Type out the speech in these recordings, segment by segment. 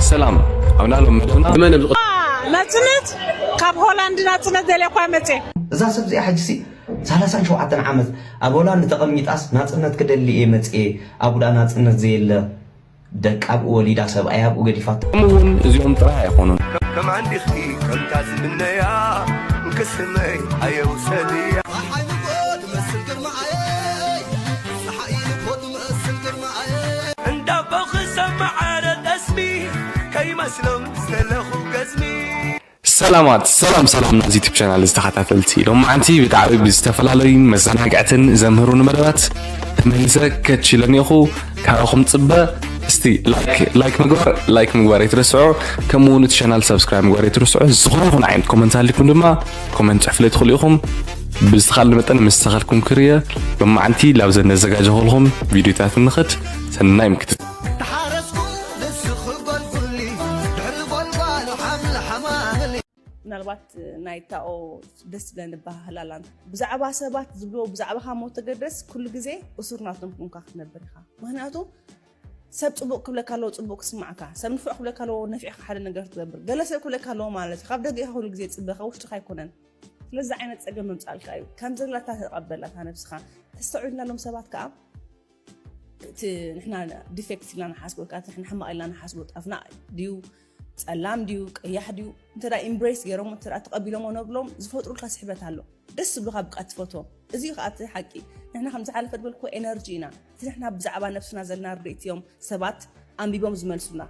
ሰላም ኣብ ናሎም መደብና ብመን ብ ናጽነት ካብ ሆላንድ ናጽነት ደልየ እኳ መጽየ እዛ ሰብ እዚኣ ሕጂሲ ሰላሳን ሸውዓተን ዓመት ኣብ ሆላንድ ተቐሚጣስ ናጽነት ክደሊ እየ መጽየ ኣጉዳ ናጽነት ዘየለ ደቃ ኣብኡ ወሊዳ ሰብኣያ ኣብኡ ገዲፋቶ ከምኡ እውን እዚኦም ጥራይ ኣይኮኑን። ከም ዓንዲኺ ከምታ ዝምነያ እንክስመይ ኣየውሰድያ ክመስል ግርማየ። እንዳቦ ክሰምዕ ኣረ ጠስሚ ከይመስሎም ዝደለኹ ገዝሚ። ሰላማት ሰላም ሰላም ናይዚ ዩቱብ ቻናል ተኻታተልቲ ሎማዓንቲ ብጣዕሚ ብዝተፈላለዩን መዘናግዕትን ዘምህሩኒ መደባት ተመሊሰ ከች ኢለ እኒኦኹ ካባኹም ፅበ እስቲ ላይክ ላይክ ምግባር ላይክ ምግባር ኣይትረስዑ ከምኡ እውን እቲ ቻናል ሰብስክራይብ ምግባር ኣይትረስዑ ዝኾነ ይኹን ዓይነት ኮመንት ሃሊኩም ድማ ኮመንት ፅሕፍለይ ትኽእሉ ኢኹም ብዝተኻለ መጠን ምስ ተኸልኩም ክርየ መማዕንቲ ላብ ዘነዘጋጀኹልኹም ቪድዮታት ንኸድ ሰናይ ምክትት ምናልባት ናይ ታኦ ደስ ዝብለን ዝበሃህላላ ብዛዕባ ሰባት ዝብልዎ ብዛዕባኻ ሞ ተገደስ ኩሉ ግዜ እሱር ናቶም ኩንካ ክትነብር ኢኻ ምክንያቱ ሰብ ፅቡቅ ክብለካ ኣለዎ ፅቡቅ ክስማዕካ ሰብ ንፍዕ ክብለካ ኣለዎ ነፊዕካ ሓደ ነገር ትገብር ገለ ሰብ ክብለካ ኣለዎ ማለት እዩ ካብ ደገ ኢኻ ኩሉ ግዜ ፅበ ካብ ውሽጥካ ኣይኮነን ስለዚ ዓይነት ፀገም ምምፃልካ እዩ ከም ዘላታ ተቐበላ እታ ነብስኻ ተስተውዕልና ሎም ሰባት ከዓ እቲ ንሕና ዲፌክት ኢልና ንሓስቦ ወይ ከዓ ንሕና ሕማቕ ኢልና ንሓስቦ ጣፍና ድዩ ፀላም ድዩ ቀያሕ ድዩ እንተ ኢምብሬስ ገይሮም እተ ተቐቢሎሞ ነብሎም ዝፈጥሩልካ ስሕበት ኣሎ ደስ ዝብልካ ብቃ ትፈትዎም እዚ ከዓ እቲ ሓቂ ንሕና ከም ዝሓለፈ ዝበልኩ ኤነርጂ ኢና እቲ ንሕና ብዛዕባ ነብስና ዘለና ርድኢት እዮም ሰባት ኣንቢቦም ዝመልሱና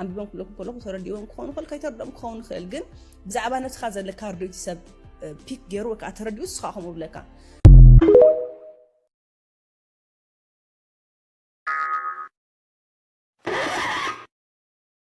ኣንቢቦም ክብለኩም ከለኹ ተረዲእዎም ክኸውን ይኽእል ከይተረድኦም ክኸውን ይኽእል ግን ብዛዕባ ነብስኻ ዘለካ ርድኢት ሰብ ፒክ ገይሩ ወይ ከዓ ተረዲኡ ንስኻ ከምኡ ብለካ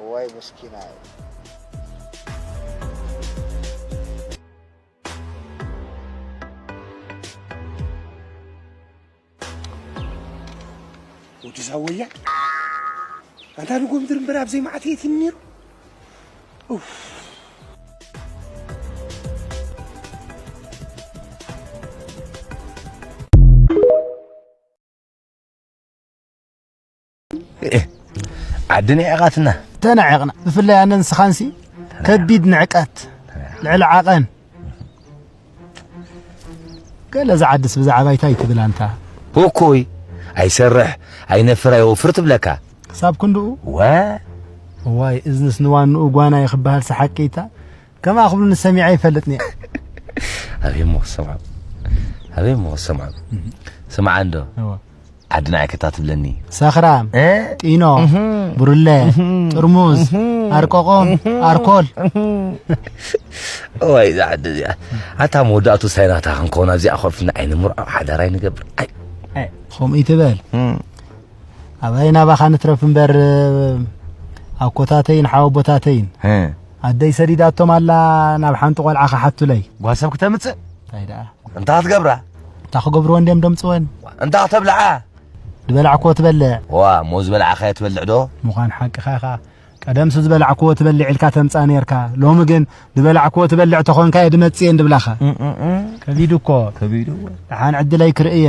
እዋይ ምስኪናይ። ወዲ ዛወያ ኣንታ ንጎምድር እምበር ኣብ ዘይመዓት የት ነይሩ ዓዲ ንዕቐትና ተናዒቕና ብፍላይ ኣነ ንስኻንሲ ከቢድ ንዕቀት ልዕሊ ዓቐን ገለ ዝዓድስ ብዛዕባ ይታይ ትብል ኣንታ እኮይ ኣይሰርሕ ኣይነፍር ኣይወፍር ትብለካ ክሳብ ክንድኡ ዋ ዋይ እዝንስ ንዋንኡ ጓና ይክበሃል ሰሓቂታ ከምኣ ክብሉኒ ሰሚዐ ኣይፈልጥን እየ። ኣበይ እሞ ክሰምዖ ኣበይ እሞ ክሰምዖ ስምዓ እንዶ ዓዲ ንዓይ ከታትብለኒ ሰኽራም ጢኖ ብርለ ጥርሙዝ ኣርቆቆም ኣርኮል እዋይ እዛ ዓዲ እዚኣ ኣታ መወዳእቱ ሳይናታ ክንከውን ኣብዚኣ ኮፍና ኣይንምርዖ ሓዳር ኣይንገብር ከምኡ ይትበል ኣባይ ናባኻ ንትረፍ እምበር ኣኮታተይን ሓወቦታተይን ኣደይ ሰዲዳቶም ኣላ ናብ ሓንቲ ቆልዓ ክሓቱለይ ጓሰብ ክተምፅእ እንታይ ደኣ እንታይ ክትገብራ እንታይ ክገብርዎ እንድዮም ደምፅወን እንታይ ክተብልዓ ዝበላዕክዎ ትበልዕ ዋ እሞ ዝበላዕኻዮ ትበልዕ ዶ ምዃን ሓቅኻ ኢኻ ቀደምሲ ዝበላዕክዎ ትበልዕ ኢልካ ተምፃ ነርካ ሎሚ ግን ዝበላዕክዎ ትበልዕ ተኾንካ እየ ድመፅእ እንድብላኻ ከቢዱ እኮ ከቢዱ ደሓን ዕድለይ ክርእየ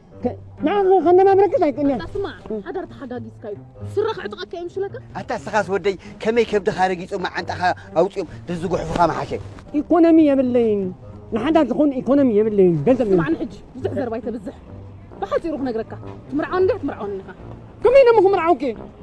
ንዓኻ ከንደማ ብረክስ ኣይክእልን እያ ስማዕ ሓዳር ተሓጋጊዝካ እዩ ስረ ክዕጥቐካ እዮም ሽለካ ኣታ እስኻስ ወደይ ከመይ ከብድኻ ረጊፆም መዓንጣኻ ኣውፂኦም ድዝጉሕፉኻ መሓሸ ኢኮኖሚ የብለይን ንሓዳር ዝኾን ኢኮኖሚ የብለይን ገንዘብ ስማዕኒ ሕጂ ብዙሕ ዘርባ ኣይተብዝሕ ብሓፂሩ ክነግረካ ትምርዓወኒ ድያ ትምርዓወኒ ኢኻ ከመይ ነሞ ክምርዓውኪ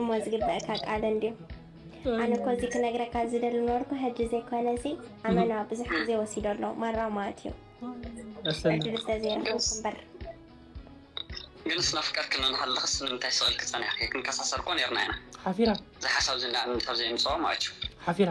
እሞ ዝግበእካ ቃል እንድዩ ኣነ እኮ እዚ ክነግረካ ዝደሊ ነበርኩ ሕጂ ዘይኮነ እዚ ኣመና ብዙሕ ግዜ ወሲዶ ኣሎ ማራ ማለት እዩ ዕድል ስለዘይረኸብኩ እምበር ግን ስናፍቀርክና ንሃለኽስ ንምንታይ ስቕ ኢልኪ ጸኒሕኪ ክንከሳሰር እኮ ኔርና ኢና ሓፊራ እዚ ሓሳብ እዚ እንዳ ኣምንት ኣብ ዘየምጽኦ ማለት እዩ ሓፊራ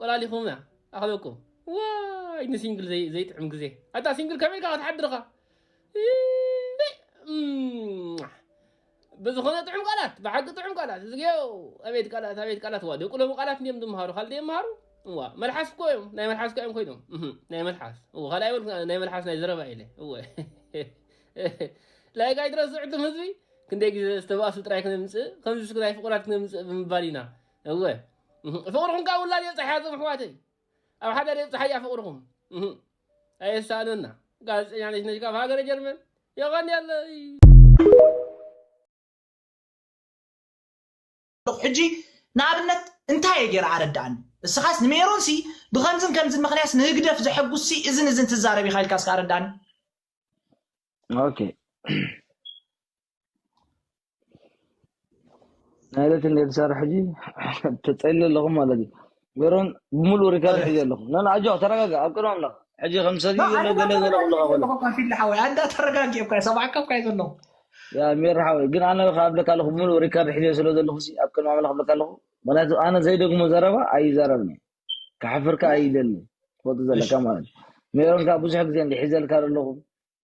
ቆላሊኹማ ኣኽለኩም ዋይ ንሲንግል ዘይጥዕም ግዜ ኣታ ሲንግል ከመይ ኢልካ ክትሓድርኻ ብዝኾነ ጥዑም ቃላት ብሓቂ ጥዑም ቃላት እዝግዮ ኣቤት ቃላት ኣቤት ቃላት ዋ ደቂ ሎሚ ቃላት እንዲም ዝምሃሩ ካልእ ዘይምሃሩ እዋ መልሓስ እኮ እዮም ናይ መልሓስ እኮ እዮም ኮይኖም ናይ መልሓስ እዎ ካልእ ኣይበል ናይ መልሓስ ናይ ዘረባ ኢለ እወ ላይክ ኣይትረስዑ እትም ህዝቢ ክንደይ ግዜ ዝተባእሱ ጥራይ ክነምፅእ ከምዚ ስክ ናይ ፍቑራት ክነምፅእ ብምባል ኢና እወ ፍቅርኩም ካብ ውላድ የብፀሐያ ዞም ኣሕዋተይ ኣብ ሓዳር የብፀሓያ ፍቅርኩም ኣየሳእነና ጋዜጠኛ ነሽነሽ ካብ ሃገረ ጀርመን የቀንየለይ ኣለኹ ሕጂ ንኣብነት እንታይ እየ ገይረ ኣረድኣኒ እስኻስ ንሜሮን ሲ ብከምዝን ከምዝን ምክንያት ንህግደፍ ዘሐጉስ ሲ እዝን እዝን ትዛረብ ኢኻ ኢልካ እስከ ኣረድኣኒ ኦኬ ናይለት እንደ ሰራሕ ጂ ተጸሊ ኣለኹ ማለት እዩ ገሮን ብምሉእ ሪካርድ ሕጂ ኣለኹ ነን ኣጆ ተረጋጋ ኣብ ቅድሚ ኣምላኽ ሕጂ ከም ሰጊ ዘሎ ገለ ገለ ክብለኻ ኮሎ ፊሊ ሓወይ ኣንዳ ተረጋጊኦም ካየ ሰማዕካ ካየ ዘለኹ ያ ሜራ ሓወይ ግን ኣነ ከ ኣብለካ ኣለኹ ብምሉእ ሪካርድ ሕጂ ስለ ዘለኹ ሲ ኣብ ቅድሚ ኣምላኽ ኣብለካ ኣለኹ ምክንያቱ ኣነ ዘይደግሞ ዘረባ ኣይዛረብኒ ክሓፍርካ ኣይደሊ ትፈልጡ ዘለካ ማለት ሜሮን ከዓ ብዙሕ ግዜ እንዲ ሒዘልካ ዘለኹ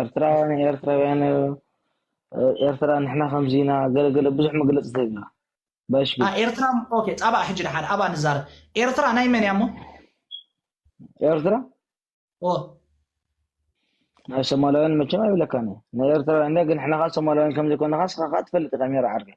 ኤርትራ ንኤርትራውያን ኤርትራ ንሕና ከምዚና ገለገለ ብዙሕ መግለፂ ተብላ ባሽ ኤርትራ ኦኬ ጻባእ ሕጂ ድሓን ኣብኣ ንዛረብ ኤርትራ ናይ መን እያ እሞ ኤርትራ ናይ ሶማላውያን መቸም ኣይብለካን ናይ ኤርትራውያን ግን ሕና ኸዓ ሶማላውያን ከምዘይኮንኻ ስኻ ኸዓ ትፈልጥ ኢኻ ሜራ ዓርከይ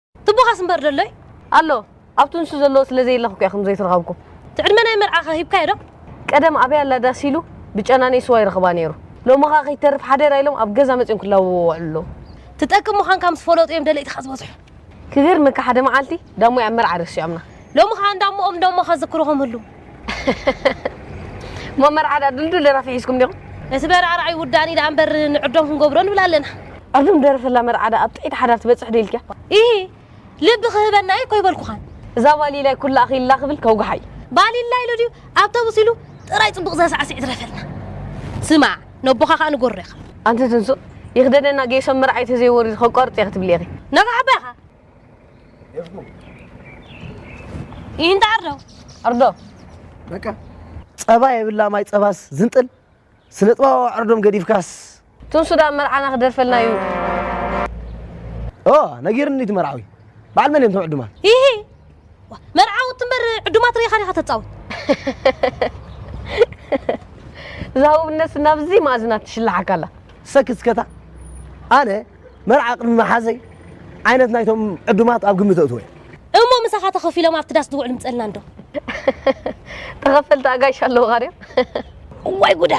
ትቦኻስ እምበር ዶ ኣሎይ? ኣሎ ኣብቲ ንሱ ዘለዎ ስለ ዘየለኹ እኮ እየ ከም ዘይትረኸብኩ። እቲ ዕድመ ናይ መርዓ ከ ሂብካዮ ዶ? ቀደም ኣበይ ኣላ ዳስ ኢሉ ብጨናኒ ስዋ ይረኽባ ነይሩ። ሎሚ ከኣ ከይትተርፍ ሓደራ ኢሎም ኣብ ገዛ መጺኦም ክላወቡ ይወዕሉ ኣለዉ። ትጠቅም ምዃንካ ምስ ፈለጡ እዮም ደለይትኻ ዝበዝሑ። ክገርመካ ሓደ መዓልቲ ዳሞይ ኣብ መርዓ ረሲዖምና። ሎሚ ከኣ እንዳሞኦም ዶሞ ከዝክሩኹም ህልው። እሞ መርዓ ድኣ ድልዱል ደራፊ ሒዝኩም ዲኹም? እቲ መርዓ ርኣይ ውዳኒ ደኣ እምበር ንዕዶም ክንገብሮ ንብል ኣለና። ዕዱም ደርፍላ መርዓ ደኣ ኣብ ጥዕይቲ ሓዳር ትበጽሕ ዶ ኢልኪያ? ኢሂ ልቢ ክህበና ኢልኮ ኣይበልኩኻን። እዛ ባሊላይ ኩላ ኣኺላ ክብል ከውግሓ ኢዩ። ባሊላ ኢሉ ድዩ ኣብቶቡስ ኢሉ ጥራይ ጽቡቅ ዘሳዕስዕ ይትረፈልና። ስማዕ ነቦኻ ከኣ ንገሮ ኢኻ። ኣንቲ ትንሱ ይኽደነና ጌሶ መርዓይ ተዘይወሪዱ ከቋርጽ እየ ክትብሊ ኢኺ። ነቓዕ ኣባ ኢኻ። ይህን ዳር ነው ኣርዶ በቃ ጸባ የብላ ማይ ጸባስ ዝንጥል ስለ ጽባባ ኣርዶም ገዲፍካስ ቱን ሱዳን መርዓና ክደርፈልና እዩ ኦ ነጊርኒ እቲ መርዓዊ በዓል መን እዮም ቶም ዕዱማት ይሂ መርዓዊ ትንበር ዕዱማት ርኢኻ ዲኻ ተጻወት ዛውብነት ናብዚ ማእዝና ትሽላሓካ ኣላ ሰክስከታ ኣነ መርዓ ቅድሚ ምሓዘይ ዓይነት ናይቶም ዕዱማት ኣብ ግምት ኣእትወ። እሞ ምሳኻ ተኸፊሎም ኣብቲ ዳስ ዝውዕሉ ምጸልና እንዶ። ተኸፈልቲ ኣጋይሽ ኣለዉኻ ድዮም? እዋይ ጉዳ!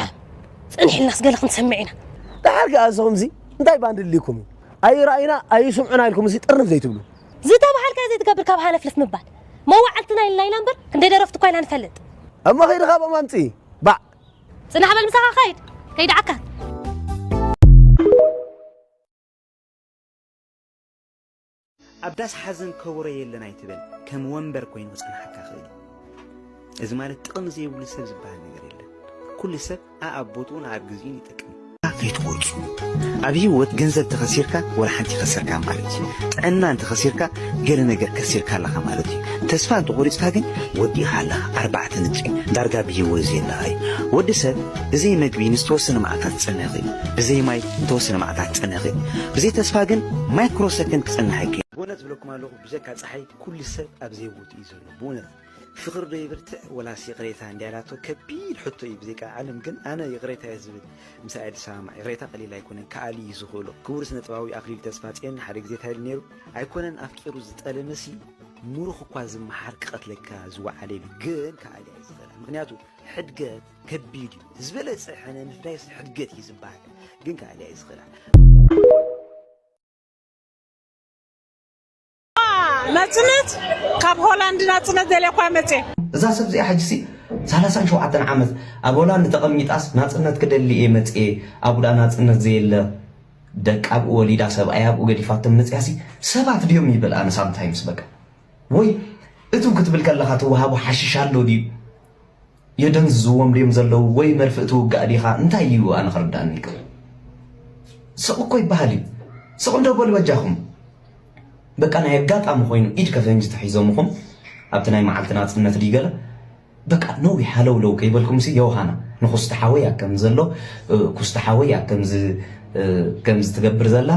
ጽንሒልናስ ገለ ክንሰምዕ ኢና። ደሓር ከኣ ንስኹምሲ እንታይ ባንዲ ኣድልዩኩም እዩ ኣይረኣዩና ኣይስምዑና ኢልኩምሲ ጥርንፍ ዘይትብሉ። ዝተበሃልካዮ ዘይትገብር ካብ ሃለፍለፍ ምባል። መዋዕልትና ኢልና ኢና እምበር ክንደይ ደረፍቲ እኳ ኢና ንፈልጥ። እሞ ከይድኻ ኣብኦም ኣምጽኢ ባዕ። ጽናሕ በል ምሳኻ ኸይድ ከይድዓካ ኣብ ዳስ ሓዘን ከበሮ የለን ኣይትበል ከም ወንበር ኮይኑ ክጸንሓካ ክእል እዚ ማለት ጥቕሚ ዘይብሉ ሰብ ዝበሃል ነገር የለን ኩሉ ሰብ ኣኣብ ቦትኡን ኣኣብ ግዜኡን ይጠቅም ጌርካ ከይትቆርጹ ኣብ ሂወት ገንዘብ ተኸሲርካ ወላ ሓንቲ ከሰርካ ማለት እዩ ጥዕና እንተኸሲርካ ገለ ነገር ከሲርካ ኣለኻ ማለት እዩ ተስፋ እንተቆሪጽካ ግን ወዲእኻ ኣለኻ ኣርባዕተ ንጥፊ ዳርጋ ብሂወት ዘየለኻ እዩ ወዲ ሰብ ብዘይ መግቢ ንዝተወሰነ መዓልታት ክጸንሕ ይኽእል ብዘይ ማይ ንተወሰነ መዓልታት ክጸንሕ ይኽእል ብዘይ ተስፋ ግን ማይክሮ ሰከንድ ክጸንሕ ኣይክእል ብእውነት ዝብለኩም ኣለኹ ብዘካ ጸሓይ ኩሉ ሰብ ኣብ ዘይቦትኡ እዩ ዘሎ ብእውነት ፍቅር ዶ ይብርትዕ ወላስ ይቅሬታ እንድያ ላቶ ከቢድ ሕቶ እዩ ብዜቃ ዓለም ግን ኣነ ይቅሬታ እየ ዝብል ምሳይ እየ ዝሰማማዕ ይቅሬታ ቀሊል ኣይኮነን ከኣሊ እዩ ዝኽእሎ ክቡር ስነ ጥባዊ ኣክሊሉ ተስፋጽዮን ሓደ ግዜ እንታይ ኢሉ ነይሩ ኣይኮነን ኣፍቂሩ ዝጠለመሲ ሙሩኽ እኳ ዝመሓር ክቀትለካ ዝወዓለ ኢሉ ግን ከኣሊ እየ ዝኽእላ ምክንያቱ ሕድገት ከቢድ እዩ ዝበለጸ ሕነ ምፍዳይ ሕድገት እዩ ዝበሃል ግን ከኣሊ እየ ዝኽእላ ናጽነት ካብ ሆላንድ ናጽነት ደልየኳ መጽ እዛ ሰብ እዚኣ ሕጂሲ ሳላሳን ሸውዓተን ዓመት ኣብ ሆላንድ ተቐሚጣስ ናጽነት ክደሊ እየ መጽኤ ኣብኡ ናጽነት ዘየለ ደቂ ኣብኡ ወሊዳ ሰብኣይ ኣብኡ ገዲፋቶም መጽያሲ ሰባት ድዮም ይብል ኣነ ሳምታይምስ በቃ ወይ እቱ ክትብል ከለኻ ትወሃቡ ሓሽሽ ኣሎ ድዩ የደንዝዝዎም ድዮም ዘለዉ ወይ መርፍእ ትውጋእ ዲኻ እንታይ እዩ ኣነ ክርዳኣኒ ኣይክእልን ስቅ እኮ ይበሃል እዩ ስቅ እንዶ በሉ በጃኹም በቃ ናይ ኣጋጣሚ ኮይኑ ኢድ ከፈንጅ ተሒዞምኹም ኣብቲ ናይ መዓልቲ ናጽነት ድዩ ገለ በቃ ነዊሕ ሃለውለው ከይበልኩምሲ ዮውሃና ንኩስቲ ሓወይ ኣከም ዘሎ ኩስቲ ሓወይ ኣከምዚ ከምዚ ትገብር ዘላ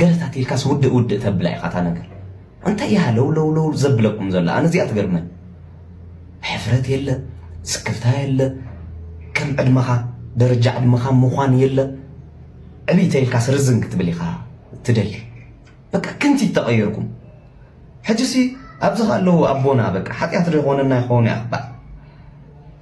ገለታት ኢልካስ ውድእ ውድእ ተብላ ኢኻ እታ ነገር እንታይ እያ ሃለውለውለው ዘብለኩም ዘሎ ኣነ እዚኣ ትገርመኒ ሕፍረት የለ ስክፍታ የለ ከም ዕድመኻ ደረጃ ዕድመኻ ምዃን የለ ዕብይ ተይልካስ ርዝን ክትብል ኢኻ ትደሊ በቃ ክንቲት ተቐየርኩም ሕጂሲ ኣብዚ ኣለዉ ኣቦና በቃ ሓጢኣት ዶ ይኾነና ይኸውን እያ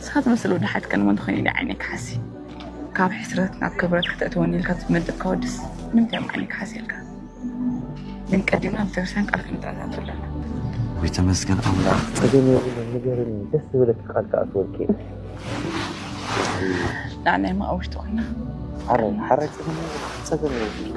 ንስኻ ትመስል ወዲ ሓት ከ ንመን ትኾይኒ ዲያ ዓይነይ ክሓሲ ካብ ሕስረት ናብ ክብረት ከተእትወኒ ኢልካ ትመድብ ከወድስ ንምንታይ እዮም ዓይነይ ክሓሲ ኢልካ ግን ቀዲምና ቤተክርስትያን ቃል ክንተኣታቱ ኣለና ወይ ተመስገን ኣምላኽ ፀገም የብሉን ንገርኒ ደስ ዝበለኪ ቃል ክኣትወልኪ ላዕላይ ማኣ ውሽጢ ኮይና ሓረ ሓረ ፀገም የብሉን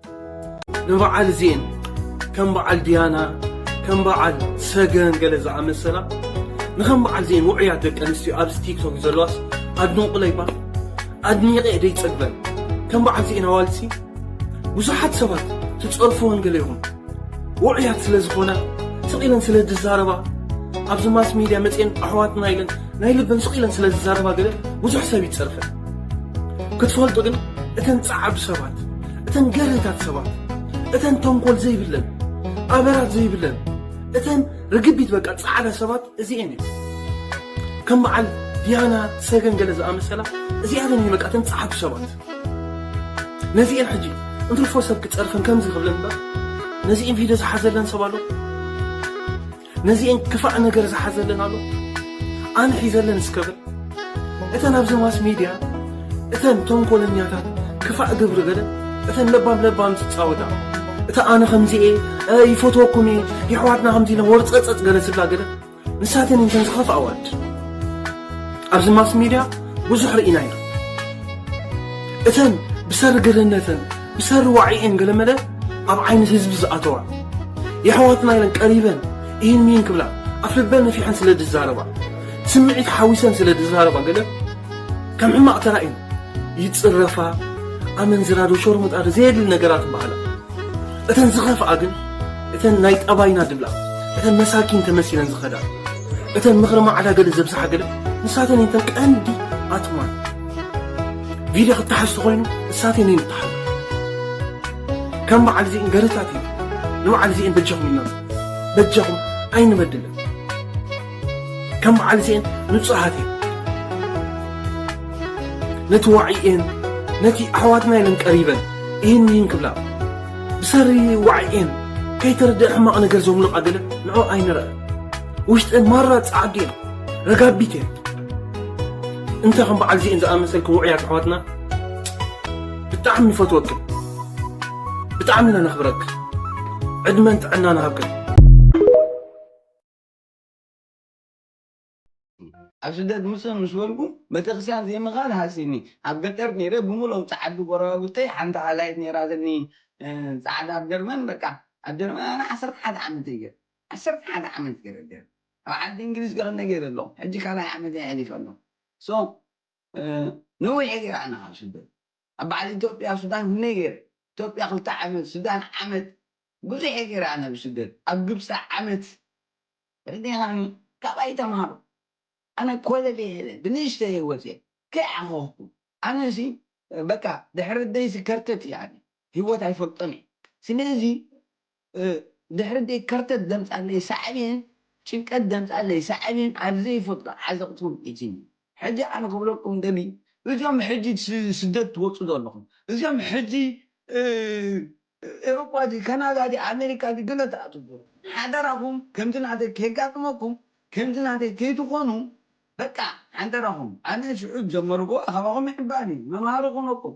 ንበዓል እዚኤን ከም በዓል ድያና ከም በዓል ሰገን ገለ ዝኣመሰላ ንከም በዓል እዚኤን ውዑያት ደቂ ኣንስትዮ ኣብዚ ቲክቶክ ዘለዋስ ኣድንቑለይ እባ ኣድኒቐ ደይፀግበን ከም በዓል እዚኤን ኣዋልሲ ብዙሓት ሰባት ትፀርፍወን ገለ ይኹን ውዑያት ስለ ዝኾና ስቕ ኢለን ስለ ዝዛረባ ኣብዚ ማስ ሚድያ መፅኤን ኣሕዋትና ኢለን ናይ ልበን ስቕ ኢለን ስለ ዝዛረባ ገለ ብዙሕ ሰብ ይፀርፈን ክትፈልጡ ግን እተን ፃዓዱ ሰባት እተን ገርህታት ሰባት እተን ተንኮል ዘይብለን ኣበራት ዘይብለን እተን ርግቢት በቃ ፃዕዳ ሰባት እዚኤን እዩ ከም በዓል ዲያና ሰገን ገለ ዝኣመሰላ እዚኣተን እዩ በቃ እተን ፀዓዱ ሰባት ነዚኤን ሕጂ እንትርፎ ሰብ ክፀርፈን ከምዚ ክብለን ነዚኤን ቪድዮ ዝሓዘለን ሰብ ኣሎ ነዚኤን ክፋእ ነገር ዝሓዘለን ኣሎ ኣነ ሒዘለን እስከ በል እተን ኣብዚ ማስ ሚድያ እተን ተንኮለኛታት ክፋእ ግብሪ ገለ እተን ለባም ለባም ዝፃወታ እታ ኣነ ከምዚኤ ይፈትወኩም እየ የሕዋትና ከምዚ ኢለ ወርፀፀፅ ገለ ዝብላ ገለ ንሳተን እንተን ዝኸፍእ ኣዋድ ኣብዚ ማስ ሚድያ ብዙሕ ርኢና ኢና እተን ብሰሪ ግርህነተን ብሰሪ ዋዒኤን ገለመለ ኣብ ዓይኒ ህዝቢ ዝኣተዋ የሕዋትና ኢለን ቀሪበን ኢሂን ሚሂን ክብላ ኣብ ልበን ነፊሐን ስለ ዝዛረባ ስምዒት ሓዊሰን ስለ ዝዛረባ ገለ ከም ሕማቕ ተራእየን ይጽረፋ ኣመንዝራ ዶ ሸርሙጣ ዶ ዘየድሊ ነገራት ይበሃላ እተን ዝኸፍኣ ግን እተን ናይ ጠባይና ድብላ እተን መሳኪን ተመሲለን ዝኸዳ እተን ምኽሪ ማዕዳ ገለ ዘብዝሓ ገለ ንሳተን እተን ቀንዲ ኣትማን ቪድዮ ክተሓዝ ተኾይኑ እሳት እኔ ንተሓዝ ከም በዓል እዚእን ገርታት እዩ ንበዓል እዚእን በጃኹም ኢና በጃኹም ኣይንበድልን ከም በዓል እዚእን ንፁሃት እዩ ነቲ ዋዕኤን ነቲ ኣሕዋትና ኢለን ቀሪበን ይህን ይህን ክብላ ብሰሪ ዋዕኤን ከይተረድአ ሕማቕ ነገር ዘምልቓ ገለ ንዑ ኣይንረአ ውሽጠይ ማራ ጻዕዱ እያ ረጋቢት እያ እንታይ ከም በዓል ዚእን ዝኣመሰልኩም ውዑያት ኣሕዋትና ብጣዕሚ ንፈትወክን ብጣዕሚ ኢና ነኽብረክ ዕድመን ጥዕና ንሃብክን ኣብ ስደት ምስ ምስ በልኩ ቤተክርስትያን ዘይምኻድ ሃሲኒ ኣብ ገጠር ነይረ ብምሎም ጻዓዱ ጎረባብተይ ሓንቲ ኣላይት ነይራ ዘኒ ጻዕዳ ኣብ ጀርመን በቃ ኣብ ጀርመን ኣነ ዓሰርተ ሓደ ዓመተይ ገይረ ዓሰርተ ሓደ ዓመት ገረ ደርግ ኣብ ዓዲ እንግሊዝ ከክነ ገረ ኣለኩ ሕጂ ካልኣይ ዓመተይ ሐሊፈ ኣለኩ so ነዊሐ ገረ ኣነ ካብ ስደት ኣብ ባዓል ኢትዮጵያ ሱዳን ክክነይ ገረ ኢትዮጵያ ክልተ ዓመት ሱዳን ዓመት ብዙሐ ገረ ኣነ ብስደት ኣብ ግብጺ ዓመት ተረዲካኒ ካባይ ተማሃሩ ኣነ ኮለል የለ ብንእሽተይ ሂወት እየ ከይ ዓኮኩ ኣነ ሲ በቃ ድሕሪ ኣደይ ሲ ከርተት እየ ኣነ ሂወት ኣይፈልጦን እየ ስለዚ ድሕሪ ደይ ከርተት ዘምጻለይ ሳዕቤን ጭንቀት ዘምጻለይ ሳዕቤን ኣብ ዘይፈልጦ ዓዘቅቲ ውዲቂትኒ ሕጂ ኣነ ክብለኩም ደልዩ እዞም ሕጂ ስደት ትወጹ ዘለኹም እዞም ሕጂ ኤሮፓ ድዩ ከናዳ ድዩ ኣሜሪካ ድዩ ገለ ትኣትዉ ዘለኹም ሓደራኹም ከምዚ ናተይ ከይጋጥመኩም ከምዚ ናተይ ከይትኾኑ በቃ ሓደራኹም ኣነ ሽዑ ዝጀመርኩዎ ካባኹም ምሕባር እዩ መምሃሪ ክኾነኩም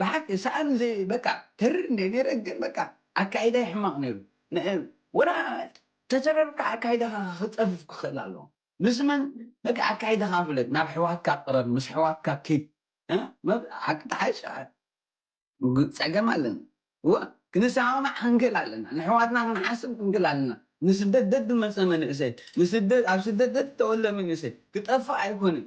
ብሓቂ ሳኣን ዘይ በቃ ተሪር እንድየ ነይረ ግን በቃ ኣካይዳይ ሕማቅ ነይሩ ንሕ ወላ ተተረርካ ኣካይዳካ ክጸፍፍ ክክእል ኣለዎ ምስ መን በቃ ኣካይዳካ ፍለጥ ናብ ኣሕዋትካ ቅረብ ምስ ኣሕዋትካ ኪድ እህ ሓቂ ተሓይሽ ግ ጸገም ኣለና እወ ክንሰማማዕ ክንክእል ኣለና ነሕዋትና ክንሓስብ ክንክእል ኣለና ንስደት ደድ መጸ መንእሰይ ንስደት ኣብ ስደት ደድ ተወልደ መንእሰይ ክጠፍእ ኣይኮነን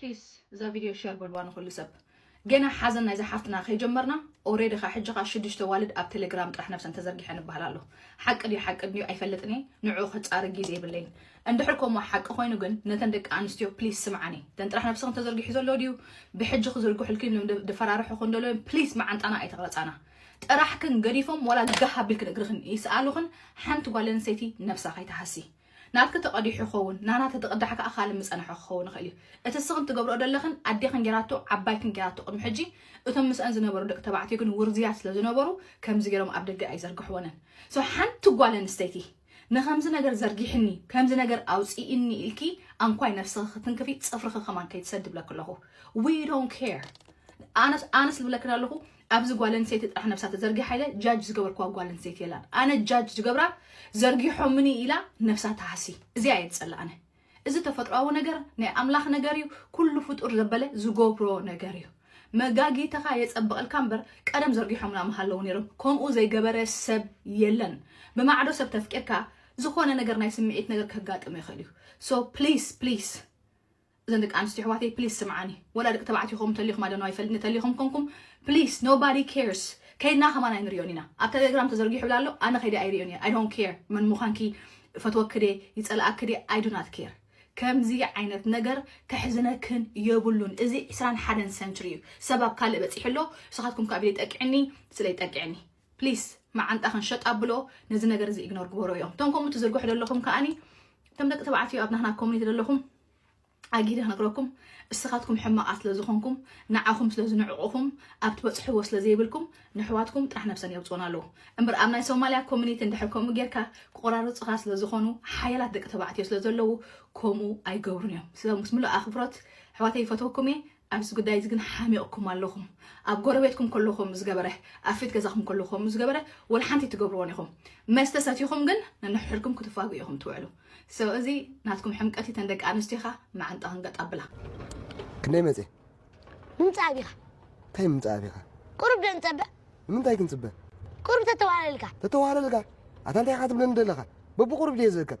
ፕሊስ እዛ ቪድዮ ሸር በልዋ ንኹሉ ሰብ። ገና ሓዘን ናይዛ ሓፍትና ከይጀመርና ኦሬዲ ከ ሕጂ ከ ሽዱሽተ ኣዋልድ ኣብ ተሌግራም ጥራሕ ነብሰን ተዘርጊሐን ይበሃል ኣሎ ሓቂ ድዩ ሓቂ ድዩ ኣይፈልጥን እየ ንዑ ከጻሪ ግዜ የብለይን እንድሕር ከምኡ ሓቂ ኮይኑ ግን ነተን ደቂ ኣንስትዮ ፕሊስ ስምዓኒ ተን ጥራሕ ነብስኽን ተዘርጊሑ ዘሎ ድዩ ብሕጂ ክዝርግሑልክን ኢሎም ደፈራርሑ ክንደሎ ፕሊስ መዓንጣና ኣይተቕረጻና ጥራሕክን ገዲፎም ዋላ ጋህ ኣቢልክን እግርኽን ይስኣሉኽን ሓንቲ ጓል ኣንስተይቲ ነብሳ ከይትሃሲ ናትኪ ተቀዲሑ ክኸውን ናና ተተቅዳሕ ከኣ ካልእ ምጸንሖ ክኸውን ይኽእል እዩ እቲ እስኽን ትገብርኦ ደለኽን ኣዴኽን ጌራቶ ዓባይክን ጌራቶ ቅድሚ ሕጂ እቶም ምስኣን ዝነበሩ ደቂ ተባዕትዮ ግን ውርዝያት ስለ ዝነበሩ ከምዚ ጌሮም ኣብ ደገ ኣይዘርግሕወንን so ሓንቲ ጓል ኣንስተይቲ ንከምዚ ነገር ዘርጊሕኒ ከምዚ ነገር ኣውጺኢኒ ኢልኪ ኣንኳይ ነፍስኺ ክትንክፊ ጽፍርኺ ከማን ከይትሰዲ ብለኪ ኣለኹ we don't care ኣነስ ኣነስ ልብለክን ኣለኹ ኣብዚ ጓል ኣንሰይቲ ጥራሕ ነብሳ ተዘርጊሓ ኢለ ጃጅ ዝገበርክዋ ጓል ኣንሰይቲ የላን ኣነ ጃጅ ዝገብራ ዘርጊሖምኒ ኢላ ነብሳ ትሃሲ እዚኣ እየ ዝጸላ ኣነ እዚ ተፈጥሯዊ ነገር ናይ ኣምላኽ ነገር እዩ ኩሉ ፍጡር ዘበለ ዝገብሮ ነገር እዩ መጋጊትኻ የጸብቐልካ እምበር ቀደም ዘርጊሖምና ምሃለዉ ነይሮም ከምኡ ዘይገበረ ሰብ የለን ብማዕዶ ሰብ ተፍቂርካ ዝኾነ ነገር ናይ ስምዒት ነገር ከጋጥም ይኽእል እዩ ሶ ፕሊስ ፕሊስ እዘን ደቂ ኣንስትዮ ኣሕዋተይ ፕሊስ ስምዓኒ ወላ ደቂ ተባዕትዮ ከምኡ ተሊኹም ኣዶኖ ኣይፈልጥ ንተሊኹም ኮንኩም ፕሊስ ኖባዲ ኬርስ ከይድና ከማን ኣይንሪኦን ኢና ኣብ ተሌግራም ተዘርጊሑ ኣሎ ኣነ ከይደ ኣይሪኦን እየ ኣይ ዶንት ኬር መን ምዃንኪ ፈትወኪ ደ ይጸልኣኪ ደ ኣይ ዱ ናት ኬር ከምዚ ዓይነት ነገር ከሕዝነክን የብሉን እዚ ዕስራን ሓደን ሰንችሪ እዩ ሰብ ኣብ ካልእ በፂሑ ኣሎ ንስኻትኩም ካብ ኢደይ ጠቂዕኒ ስለይ ጠቂዕኒ ፕሊስ መዓንጣኽን ሸጥ ኣብሎ ነዚ ነገር እዚ ኢግኖር ግበሮ እዮም እቶም ከምኡ ትዝርግሑ ዘለኹም ከዓኒ እቶም ደቂ ተባዕትዮ ኣብ ናህና ኮሚኒቲ ዘለኹም ኣጊደ ክነግረኩም እስኻትኩም ሕማቓት ስለ ዝኾንኩም ንዓኹም ስለ ዝንዕቑኹም ኣብ ትበጽሕዎ ስለ ዘይብልኩም ንሕዋትኩም ጥራሕ ነብሰን የውጽኡን ኣለዉ እምበር ኣብ ናይ ሶማልያ ኮሚኒቲ እንድሕር ከምኡ ጌርካ ክቆራርጹኻ ስለ ዝኾኑ ሓያላት ደቂ ተባዕትዮ ስለ ዘለዉ ከምኡ ኣይገብሩን እዮም ምስ ምሉእ ኣኽብሮት ኣሕዋተይ ይፈትወኩም እየ ኣብዚ ጉዳይ እዚ ግን ሓሚቕኩም ኣለኹም። ኣብ ጎረቤትኩም ከሎ ከምኡ ዝገበረ፣ ኣብ ፊት ገዛኹም ከሎ ከምኡ ዝገበረ ወላ ሓንቲ ኣይትገብርዎን ኢኹም። መስተ ሰቲኹም ግን ነንሕድሕድኩም ክትፋግኡ ኢኹም ትውዕሉ። So እዚ ናትኩም ሕምቀት እዩ ተን ደቂ ኣንስትዮ ከኣ መዓንጣኽን ገጥ ኣብላ። ክንደይ መጽየ? ምምጻእ ኣቢኻ። እንታይ ምምጻእ ኣቢኻ? ቁሩብ ዶ ንጸበ? ንምንታይ ክንጽበ? ቁሩብ ተተዋህለልካ። ተተዋህለልካ? ኣታ እንታይ ኢኻ ትብለኒ ደለኻ? በብቑሩብ ድየ ዝእከብ?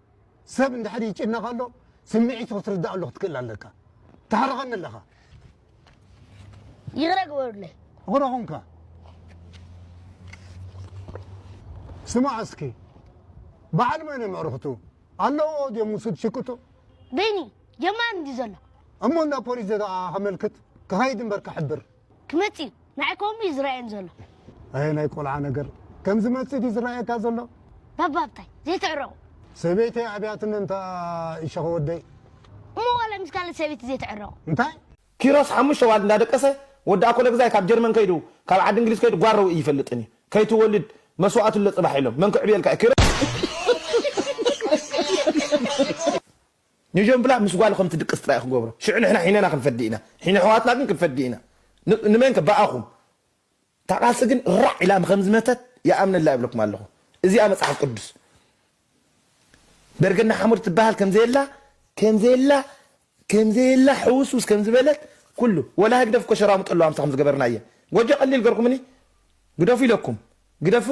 ሰብ እንድሕር ይጭነቕ ኣሎ ስምዒቱ ክትርዳኣሉ ክትክእል ኣለካ ተሕርቐኒ ኣለኻ ይቕረ ግበሩለይ ይቕረ ኹንካ ስማዕ እስኪ በዓል መን እዮም ኣዕርኽቱ ኣለዎ ድዮም ምስ ትሽቅጡ በይኒ ጀማሪ እንዲ ዘሎ እሞ እንዳ ፖሊስ ዘደኣ ከመልክት ክኸይድ እምበር ክሕብር ክመጽእ እዩ ንዓይ ከምኡ እዩ ዝረኣየኒ ዘሎ። ኣየ ናይ ቆልዓ ነገር ከም ዝመጽእ ድዩ ዝረኣየካ ዘሎ? ባባ ብታይ ዘይትዕረቑ? ሰበይተይ ኣብያትኒ እንታ ይሸኸ ወደይ። እሞ ዋላ ምስ ካልእ ሰበይቲ ዘይትዕረቑ? እንታይ? ኪሮስ ሓሙሽተ ኣዋልድ እንዳደቀሰ ወዲ ኣኮለግዛይ ካብ ጀርመን ከይዱ ካብ ዓዲ እንግሊዝ ከይዱ ጓል ረዊኢ ይፈልጥን እዩ ከይትወልድ መስዋእቲ ኣሎ ፅባሕ ኢሎም መን ክዕብየልካ እዩ ኪሮስ። ኘጀምብላ ምስ ጓሉ ከም ትድቅስ ጥራይ እዩ ክገብሮ ሽዑ ንሕና ሒነና ክንፈዲ ኢና ሒነ ኣሕዋትና ግን ክንፈዲ ኢና ንመን ከ ብኣኹም እታ ቃልሲ ግን ራዕ ኢላ ከም ዝመተት ይኣምነላ ይብለኩም ኣለኹ እዚኣ መጽሓፍ ቅዱስ በርገና ሓሙድ ትበሃል ከም ዘየላ ከም ዘየላ ከም ዘየላ ሕውስውስ ከም ዝበለት ኩሉ ወላ ህግደፍ እኮ ሸራሙጥ ኣለዋ ምሳኹም ዝገበርና እየ ጎጆ ቀሊል ገርኩምኒ ግደፉ ኢለኩም ግደፉ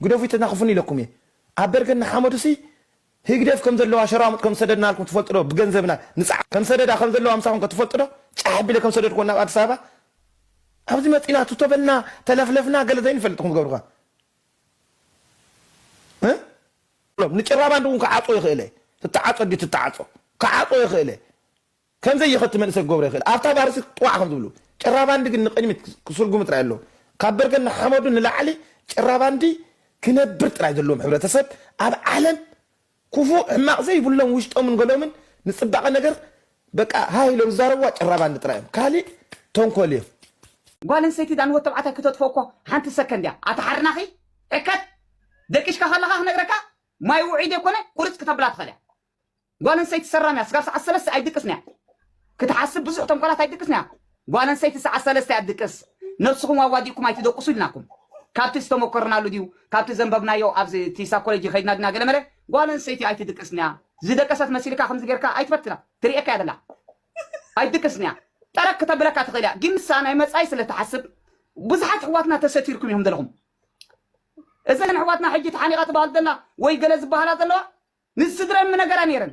ግደፉ ይተናኽፉኒ ኢለኩም እየ ኣብ በርገና ሓመዱሲ ህግደፍ ከም ዘለዋ ሸራሙጥ ከም ዝሰደድናልኩም ትፈልጡ ዶ ብገንዘብና ንጽዓር ከም ሰደዳ ከም ዘለዋ ምሳኹም ከ ትፈልጡ ዶ ጫሕ ኣቢለ ከም ዝሰደድክወን ናብ ኣዲስ ኣበባ ኣብዚ መጺና ቱቶ በልና ተለፍለፍና ገለ ዘይንፈልጥ ኢኹም ትገብሩ ከ እ ንጭራባንድ እውን ክዓጾ ይኽእለ ትተዓጾ ድዩ ትተዓጾ ክዓጾ ይኽእለ ከም ዘይኸቲ መንእሰይ ክገብሮ ይኽእል። ኣብታ ባርሲ ጥዋዕ ከም ዝብሉ። ጭራባንዲ ግን ንቕድሚት ክስርጉሙ ጥራይ ኣሎ። ካብ በርገን ንሓመዱ ንላዕሊ ጭራባንዲ ክነብር ጥራይ ዘለዎም ሕብረተሰብ ኣብ ዓለም ኩፉእ ሕማቕ ዘይብሎም ውሽጦምን ገሎምን ንጽባቐ ነገር በቃ ሃህ ኢሎም ዝዛረብዋ ጭራባንዲ ጥራይ እዮም። ካሊእ ተንኮል እዮም። ጓል ኣንስተይቲ እዛ ንወድተባዕታይ ክተጥፍኦ እኮ ሓንቲ ሰከንድ እያ ኣታ ሓርናኺ ዕከት ደቂሽካ ከለኻ ክነግረካ ማይ ውዑይ ዘይኮነ ቁርጽ ክተብላ ትኽእል እያ ጓል ኣንሰይቲ ሰራምያ ስጋብ ሰዓት ሰለስተ ኣይትድቅስንያ ክትሓስብ ብዙሕ ተንኮላት ኣይትድቅስንያ ጓል ኣንሰይቲ ሰዓት ሰለስተ እያ ትድቅስ ነብስኹም ኣዋዲእኩም ኣይትደቁሱ ኢልናኩም ካብቲ ዝተመኮርናሉ ድዩ ካብቲ ዘንበብናዮ ኣብዚ እቲ ሳኮሎጂ ከይድና ድና ገለመለ ጓል ኣንሰይቲ ኣይትድቅስንያ ዝደቀሰት መሲልካ ከምዚ ጌርካ ኣይትፈትና ትርእየካ እያ ዘላ ኣይትድቅስንያ ጠረግ ክተብለካ ትኽእል እያ ግን ንሳ ናይ መጻኢ ስለ ትሓስብ ብዙሓት ኣሕዋትና ተሰቲርኩም ኢኹም ዘለኹም እዘን ኣሕዋትና ሕጂ ተሓኒቓ ትበሃል ዘላ ወይ ገለ ዝበሃላ ዘለዋ ንስድረን ምነገራ ነይረን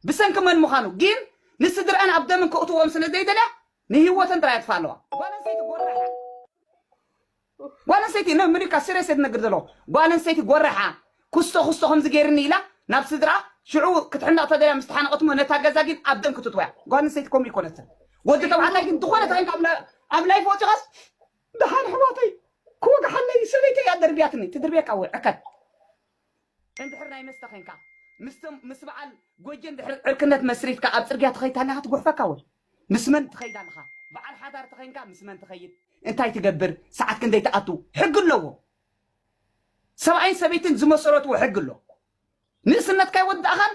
ብሰንኪ መን ምዃኑ ጊን ንስድረኣን ኣብ ደምን ከእትዎኦም ስለ ዘይደልያ ንሂወተን ጥራይ የጥፍኣ ኣለዋ ጓለንስተይቲ ጎራሓ ጓለንስተይቲ ን ምኒካ ሲርየስ እየ ዝነግር ዘለኹ ጓለንስተይቲ ጎራሓ ኩስቶ ኩስቶ ከምዚ ገይርኒ ኢላ ናብ ስድርኣ ሽዑ ክትሕነቕ ተደልያ ምስ ተሓነቐት እሞ ነታ ገዛ ጊን ኣብ ደም ክትእትዋያ ጓለንስተይቲ ከምኡ ኣይኮነትን ወዲ ተባዕታይ ግን ዝኾነ ተኸይንካ ኣብ ላይፍ ወጺኻስ ደሓን ኣሕዋተይ ክወግሓለይ ሰበይተይ እያ ደርብያትኒ ትድርብየካ ወይ ዕከት እንድሕር ናይ መስተ ኬንካ ምስ በዓል ጎጄ እንድሕር ዕርክነት መስሪትካ ኣብ ጽርግያ ተኸይድ ኣለኻ ትጎሕፈካ ወይ ምስ መን ትኸይድ ኣለኻ በዓል ሓዳር ተኼንካ ምስ መን ትኸይድ እንታይ ትገብር ሰዓት ክንደይ ትኣቱ ሕጊ ኣለዎ ሰብኣይን ሰበይትን ዝመሰረትዎ ሕጊ ኣሎ ንእስነትካ ኣይወዳእኻን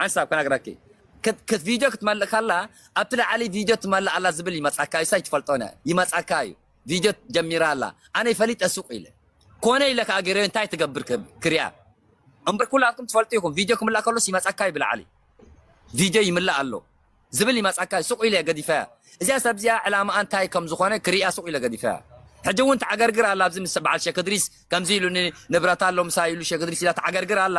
ሓንሳብ ክነግረኪ ክት ቪድዮ ክትመልእ ከላ ኣብቲ ላዕሊ ቪድዮ ትመልእ ኣላ ዝብል ይመጻካ እዩ ሳይ ትፈልጦነ ይመጻካ እዩ ቪድዮ ጀሚራ ኣላ ኣነ ፈሊጠ ሱቅ ኢለ ኮነ ኢለ ከኣ ገሬዮ እንታይ ትገብር ክሪኣ እምበር ኩላትኩም ትፈልጡ ኢኹም ቪድዮ ክምላእ ከሎስ ይመጻካ እዩ ብላዕሊ ቪድዮ ይምላእ ኣሎ ዝብል ይመጻካ እዩ ሱቅ ኢለ ገዲፈያ እዚኣ ሰብ እዚኣ ዕላማኣ እንታይ ከም ዝኾነ ክሪኣ ሱቅ ኢለ ገዲፈያ ሕጂ እውን ተዓገርግር ኣላ ኣብዚ ምስ በዓል ሸክ እድሪስ ከምዚ ኢሉኒ ንብረት ኣሎ ምሳይ ኢሉ ሸክ እድሪስ ኢላ ተዓገርግር ኣላ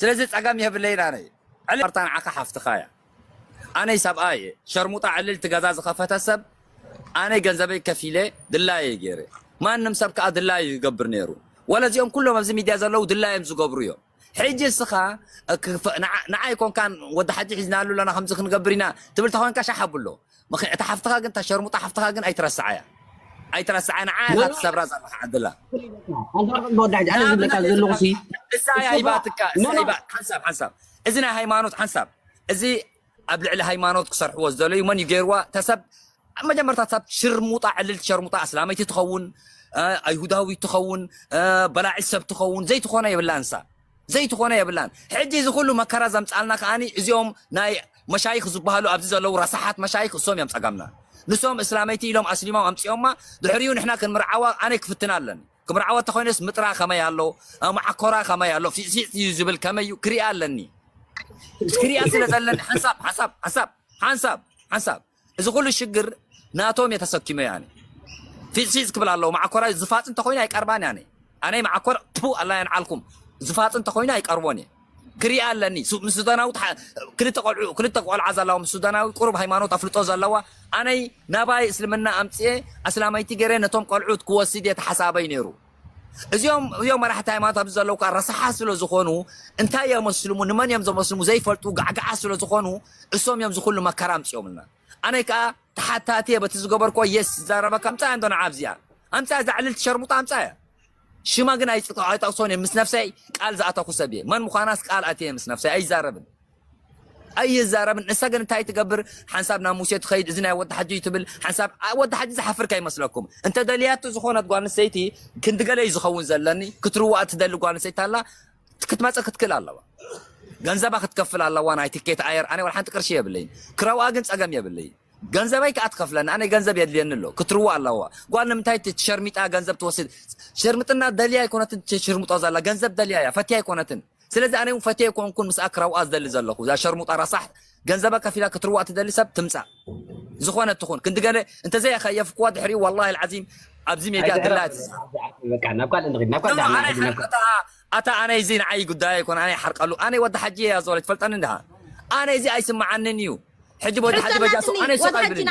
ስለዚ ጸገም የብለይን ኣነ ዕልል ማርታ ንዓካ ሓፍትካ እያ ኣነይ ሰብኣይ እየ ሸርሙጣ ዕልል እቲ ገዛ ዝከፈተ ሰብ ኣነ ገንዘበይ ከፊለ ድላየይ ገይረ ማንም ሰብ ከኣ ድላዩ ይገብር ነይሩ ወለ እዚኦም ኩሎም ኣብዚ ሚድያ ዘለዉ ድላዮም ዝገብሩ እዮም ሕጂ እስኻ ንዓይ ኮንካ ወዲ ሓጂ ሒዝናሉ ኣለና ከምዚ ክንገብር ኢና ትብል ተኮንካ ሻሕ ኣብሎ ምኺ እታ ሓፍትኻ ግን እታ ሸርሙጣ ሓፍትኻ ግን ኣይትረስዓያ ኣይትረስዓያ ንዓ ኢኻ ትሰብራ ዘለኻ ዕድላ እዛ እያ ሂባትካ እዛ ሂባ ሓንሳብ ሓንሳብ እዚ ናይ ሃይማኖት ሓንሳብ እዚ ኣብ ልዕሊ ሃይማኖት ክሰርሕዎ ዝደለዩ መን እዩ ገይርዋ ተሰብ መጀመርታ ሰብ ሽርሙጣ ዕልልቲ ሸርሙጣ ኣስላመይቲ ትኸውን ኣይሁዳዊ ትኸውን በላዒ ሰብ ትኸውን ዘይትኾነ የብላ እንሳ ዘይትኾኖ የብላን ሕጂ እዚ ኩሉ መከራ ዘምጻልና ከኣ እዚኦም ናይ መሻይኽ ዝባሃሉ ኣብዚ ዘለዉ ረሳሓት መሻይኽ እሶም እዮም ጸገምና ንሶም እስላመይቲ ኢሎም ኣስሊሞም ኣምጺኦማ ድሕሪኡ ንሕና ክንምርዓዋ ኣነ ክፍትና ኣለኒ ክምርዓዋ እንተኾይነስ ምጥራ ከመይ ኣሎ መዓኮራ ከመይ ኣሎ ፊዕፊዕ እዩ ዝብል ከመይ እዩ ክሪኣ ኣለኒ ክሪኣ ስለ ዘለኒ ሓንሳብ ሓንሳብ ሓንሳብ ሓንሳብ ሓንሳብ እዚ ኩሉ ሽግር ናቶም እየ ተሰኪመ ያኒ ፊፅ ፊፅ ክብል ኣለዎ ማዓኮራይ ዝፋፅ እንተኮይኑ ኣይቀርባን ያኒ ኣነይ ማዓኮር ፑ ኣላ የንዓልኩም ዝፋፅ እንተኮይኑ ኣይቀርቦን እየ ክሪኣ ኣለኒ ምስ ሱዳናዊ ክልተ ቆልዑ ክልተ ቆልዓ ዘለዋ ምስ ሱዳናዊ ቁሩብ ሃይማኖት ኣፍልጦ ዘለዋ ኣነይ ናባይ እስልምና ኣምፅኤ ኣስላመይቲ ገይረ ነቶም ቆልዑት ክወስድ እየ ተሓሳበይ ነይሩ እዚኦም እዮም መራሕቲ ሃይማኖት ኣብዚ ዘለዉ ከዓ ረሳሓት ስለ ዝኾኑ እንታይ እዮም መስልሙ ንመን እዮም ዘመስልሙ ዘይፈልጡ ጋዕጋዓ ስለ ዝኾኑ እሶም እዮም ዝኹሉ መከራ ኣምፅኦምልና ኣነ ከዓ ተሓታቲ እየ በቲ ዝገበርኮ የስ ዝዛረበካ ኣምፃ እንዶ ንዓ ኣብዚኣ ኣምፃ እዛ ዕልልቲ ሸርሙጣ ኣምፃ እያ ሽማ ግን ኣይጠቕሶን እየ ምስ ነፍሰይ ቃል ዝኣተኹ ሰብ እየ መን ምዃናስ ቃል ኣትየ ምስ ነፍሰይ ኣይዛረብን ኣይዛረብን ንሳ ግን እንታይ ትገብር ሓንሳብ ናብ ሙሴ ትኸይድ እዚ ናይ ወዲ ሓጂ እዩ ትብል ሓንሳብ ወዲ ሓጂ ዝሓፍር ከይመስለኩም እንተ ደልያቱ ዝኾነት ጓል ኣንስተይቲ ክንዲ ገለ እዩ ዝኸውን ዘለኒ ክትርዋእ ትደሊ ጓል ኣንስተይቲ ኣላ ክትመፅእ ክትክእል ኣለዋ ገንዘባ ክትከፍል ኣለዋ ናይ ትኬት ኣየር ኣነ ወላ ሓንቲ ቅርሺ የብለይ ክረውኣ ግን ፀገም የብለይ ገንዘበይ ከዓ ትኸፍለኒ ኣነ ገንዘብ የድልየኒ ኣሎ ክትርዋ ኣለዋ ጓል ንምንታይ ትሸርሚጣ ገንዘብ ትወስድ ሸርምጥና ደልያ ኣይኮነትን ትሽርምጦ ዘላ ገንዘብ ደልያ እያ ፈትያ ኣይኮነትን ስለዚ ኣነ ውን ፈትየ ኮንኩን ምስኣ ክረውኣ ዝደሊ ዘለኩ እዛ ሸርሙጣ ረሳሕ ገንዘባ ከፊላ ክትርዋእ ትደሊ ሰብ ትምጻእ ዝኾነ ትኹን ክንዲ ገለ እንተዘይ ኣኸየፍክዋ ድሕሪኡ ዋላሂ ልዓዚም ኣብዚ ሜድያ ድላ ኣታ ኣነ እዚ ንዓይ ጉዳይ ኣይኮነ ኣነ ይሓርቀሉ ኣነ ወዲ ሓጂ እያ ዞለ ትፈልጠኒ እንድሃ ኣነ እዚ ኣይስምዓንን እዩ ሕጂ ወዲ ሓጂ በጃሱ ኣነ ይሰቃይ ብልኒ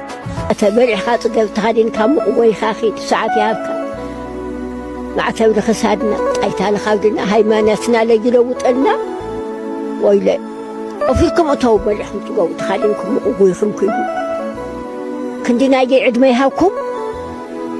ማዕተብ በሊዕካ ጽገብ ተኸዲንካ ሙቕ ጎይኻ ኺድ ሰዓት ይሃብካ ማዕተብ ንኽሳድና ጣይታ ንኻብድና ሃይማኖትና ለጅለውጠልና ወይለ ኦፊርኩም እተው በሊዕኩም ጽገቡ ተኸዲንኩም ሙቕ ጎይኹም ኪዱ ክንዲ ናይገይ ዕድመ ይሃብኩም